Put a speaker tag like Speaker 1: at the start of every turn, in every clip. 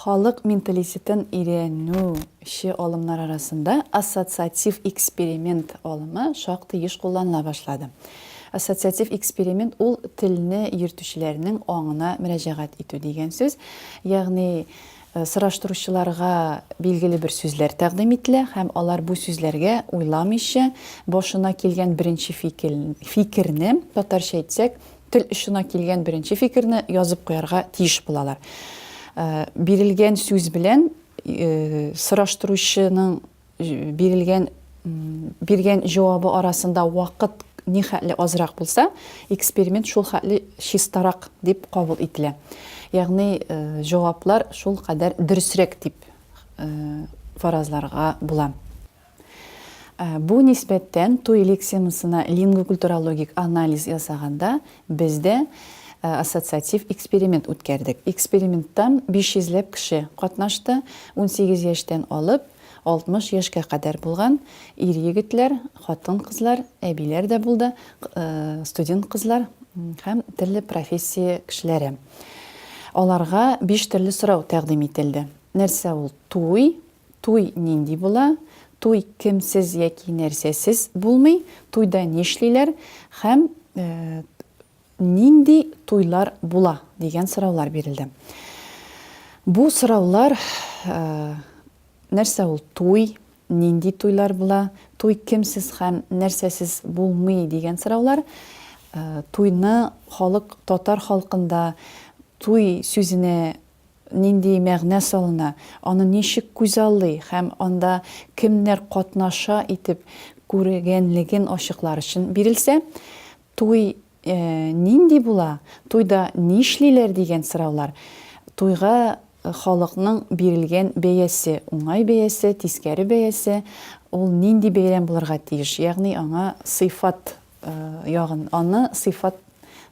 Speaker 1: Халык менталитетын өйрәнүче алымнар арасында ассоциатив эксперимент алымы шактый еш кулланыла башлады. Ассоциатив эксперимент ул телне йөртүчеләрнең аңына мөрәҗәгать итү дигән сүз. Ягъни, Сораштыручыларга билгеле бер сүзләр тәкъдим ителә һәм алар бу сүзләргә уйламыйча, башына килгән беренче фикерне, татарча әйтсәк, тел очына килгән беренче фикерне язып куярга тиеш булалар. Бирелгән сүз белән сораштыручының бирелгән биргән җавабы арасында вакыт ни хәтле азрак булса, эксперимент шул хәтле чистарак дип кабул ителә. Ягъни э, җаваплар шул кадәр дөресрәк дип э, фаразларга була. Э, бу нисбәттән туй лексемасына лингвокультурологик анализ ясаганда Без дә ассоциатив эксперимент үткәрдек. Эксперименттан биш йөзләп кеше катнашты, унсигез яшьтән алып, алтмыш яшькә кадәр булган ир-егетләр, хатын-кызлар, әбиләр дә булды, студент кызлар һәм төрле профессия кешеләре. Аларга биш төрле сорау тәкъдим ителде. Нәрсә ул туй, Туй нинди була, туй кемсез яки нәрсәсез булмый, туйда нишлиләр һәм нинди туйлар була, дигән сораулар бирелде. Бу сораулар нәрсә ул туй, нинди туйлар була, туй кемсез һәм нәрсәсез булмый, дигән сораулар туйны халык татар халкында туй сүзенә нинди мәгънә салына, аны ничек күзаллый һәм анда кемнәр катнаша итеп күргәнлеген ачыклар өчен бирелсә, туй нинди була, туйда нишлиләр дигән сораулар, туйга халыкның бирелгән бәясе, уңай бәясе, тискәре бәясе, ул нинди бәйрәм булырга тиеш, ягъни аңа сыйфат ягын, аны сыйфат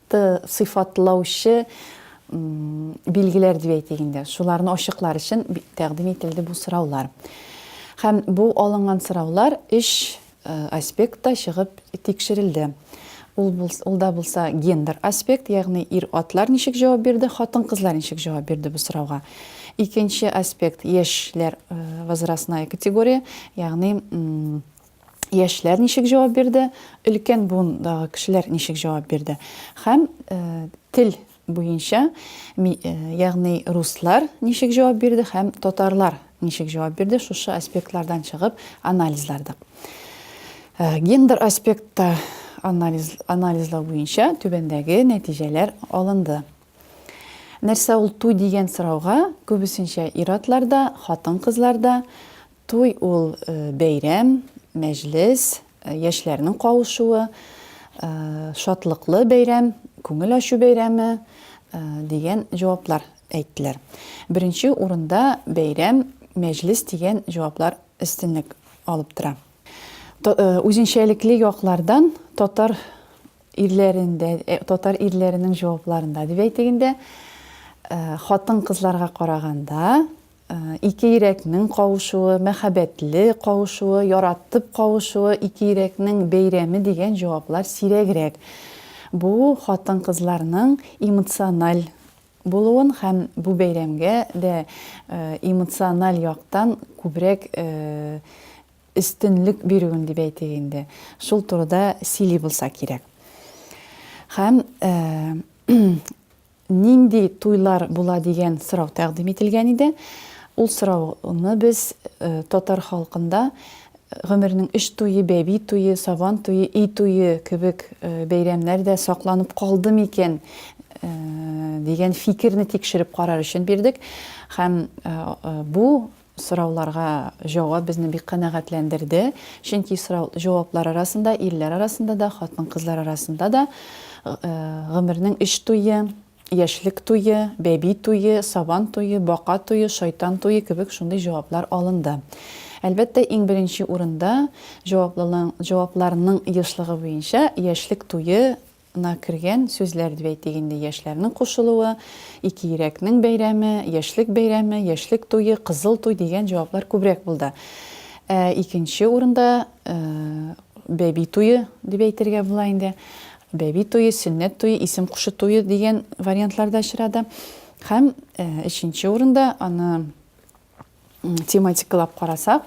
Speaker 1: сыйфатлаучы билгеләр дип әйтик инде шуларны ачыклар өчен тәкъдим ителде бу сораулар һәм бу алынган сораулар өч э, аспектта чыгып тикшерелде ул ул да булса гендер аспект ягъни ир атлар ничек җавап бирде хатын кызлар ничек җавап бирде бу сорауга икенче аспект яшьләр э, возрастная категория ягъни яшьләр ничек җавап бирде, өлкән буындагы кешеләр ничек җавап бирде. Һәм тел буенча, ягъни руслар ничек җавап бирде һәм татарлар ничек җавап бирде, шушы аспектлардан чыгып анализлардык. Гендер аспектта анализ, анализлау буенча түбәндәге нәтиҗәләр алынды. Нәрсә ул туй дигән сорауга күбесенчә ир-атларда, хатын-кызларда Туй ул бәйрәм, мәҗлес, яшьләрнең кавышуы, шатлыклы бәйрәм, күңел ачу бәйрәме, дигән җаваплар әйттеләр. Беренче урында бәйрәм, мәҗлес дигән җаваплар өстенлек алып тора. Үзенчәлекле яклардан татар ирләрендә, татар ирләренең җавапларында дип әйтик инде, хатын-кызларга караганда, Ике йөрәкнең кавышуы, мәхәббәтле кавышуы, яратып кавышуы, ике йөрәкнең бәйрәме дигән җаваплар сирәгрәк. Бу хатын-кызларның эмоциональ булуын һәм бу бәйрәмгә дә эмоциональ яктан күбрәк өстенлек бирүен дип әйтик инде, шул турыда сөйли булса кирәк. Һәм Нинди туйлар була дигән сорау тәкъдим ителгән иде. Ул сорауны без татар халкында гомернең өч туе, бәби туе, сабан туе, өй туе кебек бәйрәмнәр дә сакланып калды микән дигән фикерне тикшереп карар өчен бирдек. Һәм бу Сорауларга җавап безне бик канәгатьләндерде, чөнки сорау җаваплар арасында, ирләр арасында да, хатын-кызлар арасында да гомернең өч туе, яшьлек туе, бәби туе, сабан туе, бака туе, шайтан туе кебек шундый җаваплар алынды. Әлбәттә, иң беренче урында җаваплылың, җавапларның ешлыгы буенча яшьлек туе На кергән сүзләр дип әйтик инде, яшьләрнең кушылуы, ике йөрәкнең бәйрәме, яшьлек бәйрәме, яшьлек туе, кызыл туй дигән җаваплар күбрәк булды. Ә икенче урында бәби туе дип әйтергә була инде. Бәби туе, сөннәт туе, исем кушу туе дигән вариантлар да очрады. Һәм өченче урында аны тематикалап карасак,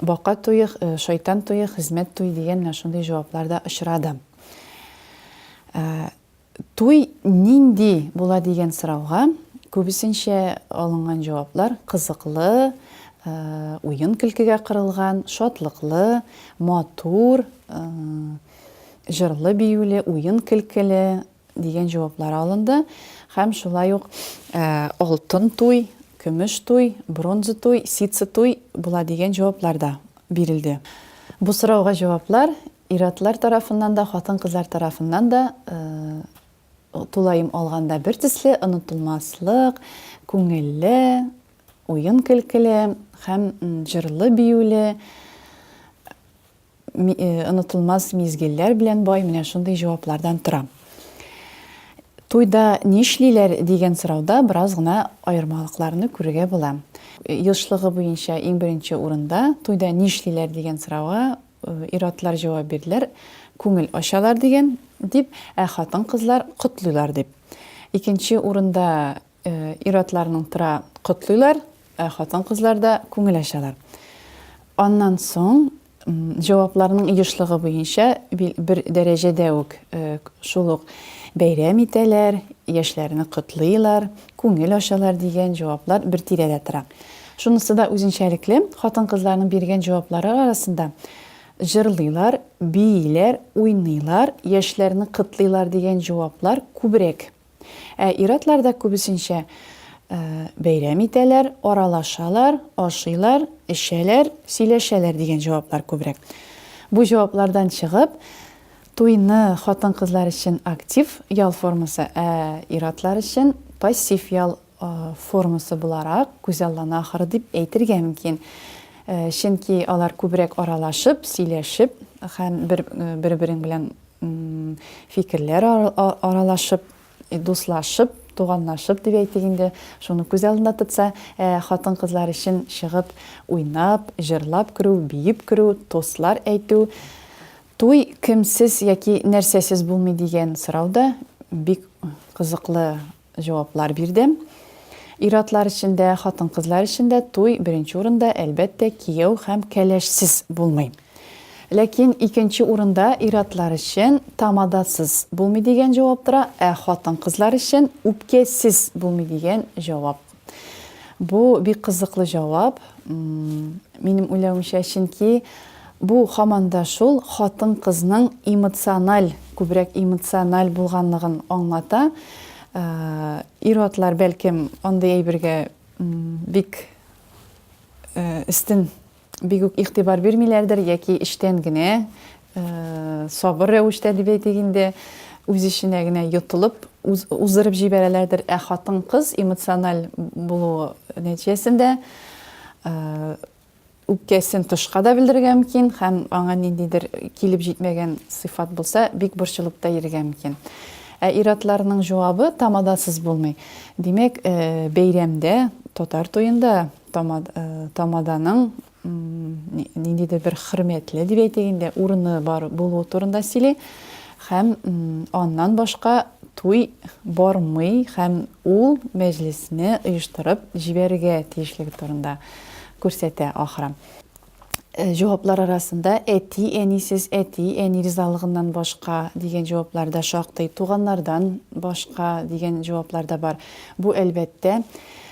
Speaker 1: бака туе, э, шайтан туе, хезмәт туе дигән менә шундый җаваплар да очрады. Э, туй нинди була дигән сорауга күбесенчә алынган җаваплар кызыклы, э, уен көлкегә кырылган, шатлыклы, матур, җырлы биюле, уен көлкеле, дигән җаваплар алынды һәм шулай ук алтын туй, көмеш туй, бронза туй, ситсы туй була дигән җаваплар да бирелде. Бу сорауга җаваплар ир-атлар тарафыннан да, хатын-кызлар тарафыннан да тулаем алганда бертөсле, онытылмаслык, күңелле, уен-көлкеле һәм җырлы-биюле онытылмас мизгелләр белән бай менә шундый җаваплардан тора. Туйда нишлиләр дигән сорауда бераз гына аермалыкларны күрергә була. Елшлыгы буенча иң беренче урында туйда нишлиләр дигән сорауга ир-атлар җавап бирделәр, күңел ачалар дигән, дип, ә хатын-кызлар котлыйлар дип. Икенче урында Ир-атларның тора котлыйлар, ә хатын-кызлар да күңел ачалар. Аннан соң җавапларның ешлыгы буенча бер дәрәҗәдә үк шул ук бәйрәм итәләр, яшьләрне котлыйлар, күңел ачалар дигән җаваплар бер тирәдә тора. Шунысы да үзенчәлекле, хатын-кызларның биргән җаваплары арасында җырлыйлар, бииләр, уйныйлар, яшьләрне котлыйлар дигән җаваплар күбрәк Ә ир-атларда күбесенчә бәйрәм итәләр, аралашалар, ашыйлар, эчәләр, сөйләшәләр дигән җаваплар күбрәк. Бу җаваплардан чыгып, туйны хатын-кызлар өчен актив ял формасы, ә ир-атлар өчен пассив ял формасы буларак күзаллана ахыры дип әйтергә мөмкин. Чөнки алар күбрәк аралашып, сөйләшеп һәм бер-берең белән фикерләр аралашып, дуслашып, туганлашып дип әйтик инде, шуны күз алдында тотса, хатын-кызлар өчен чыгып уйнап, җырлап керү, биеп керү, тостлар әйтү, туй кемсез яки нәрсәсез булмый дигән сорау да бик кызыклы Җаваплар бирдем. Ир-атлар өчен дә, хатын-кызлар өчен дә туй беренче урында, әлбәттә, кияү һәм кәләшсез булмый. Ләкин икенче урында ир-атлар өчен тамадасыз булмый дигән җавап тора, ә хатын-кызлар өчен үпкәсез булмый дигән җавап Бу бик кызыклы җавап, минем уйлавымча, чөнки бу хаман да шул хатын-кызның эмоциональ, күбрәк эмоциональ булганлыгын аңлата. Ир-атлар бәлкем андый әйбергә бик өстен бик үк игътибар бирмиләрдер яки эчтән генә сабыр рәвештә дип әйтик инде үз эченә генә йотылып уздырып җибәрәләрдер ә хатын кыз эмоциональ булуы нәтиҗәсендә үпкәсен тышка да белдерергә мөмкин һәм аңа ниндидер килеп җитмәгән сыйфат булса бик борчылып та йөрергә мөмкин ә ир-атларның җавабы тамадасыз булмый димәк бәйрәмдә татар туенда Тамаданың ниндидер бер хөрмәтле дип әйтик инде, урыны бар булуы турында сөйли һәм аннан башка туй бармый һәм ул мәҗлесне оештырып җибәрергә тиешлеге турында күрсәтә ахры. җаваплар арасында әти-әнисез, әти-әни ризалыгыннан башка дигән җаваплар да шактый, туганнардан башка дигән җаваплар да бар. Бу, әлбәттә,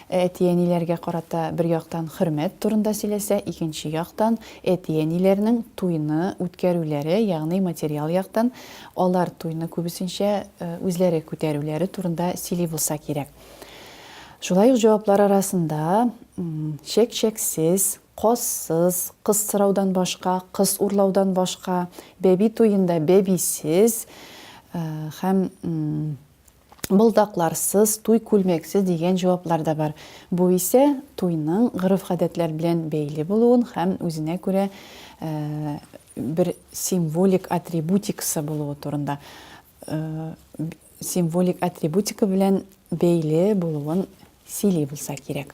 Speaker 1: әти-әниләргә карата бер яктан хөрмәт турында сөйләсә, икенче яктан, әти-әниләрнең туйны үткәрүләре, ягъни материал яктан алар туйны күбесенчә үзләре күтәрүләре турында сөйли булса кирәк. Шулай ук җаваплар арасында чәк-чәксез, Казсыз, кыз сораудан башка, кыз урлаудан башка, бәби туенда бәбисез һәм болдакларсыз, туй күлмәксез дигән җаваплар да бар. Бу исә туйның гореф-гадәтләр белән бәйле булуын һәм үзенә күрә бер символик атрибутикасы булуы турында символик атрибутика белән бәйле булуын сөйли булса кирәк.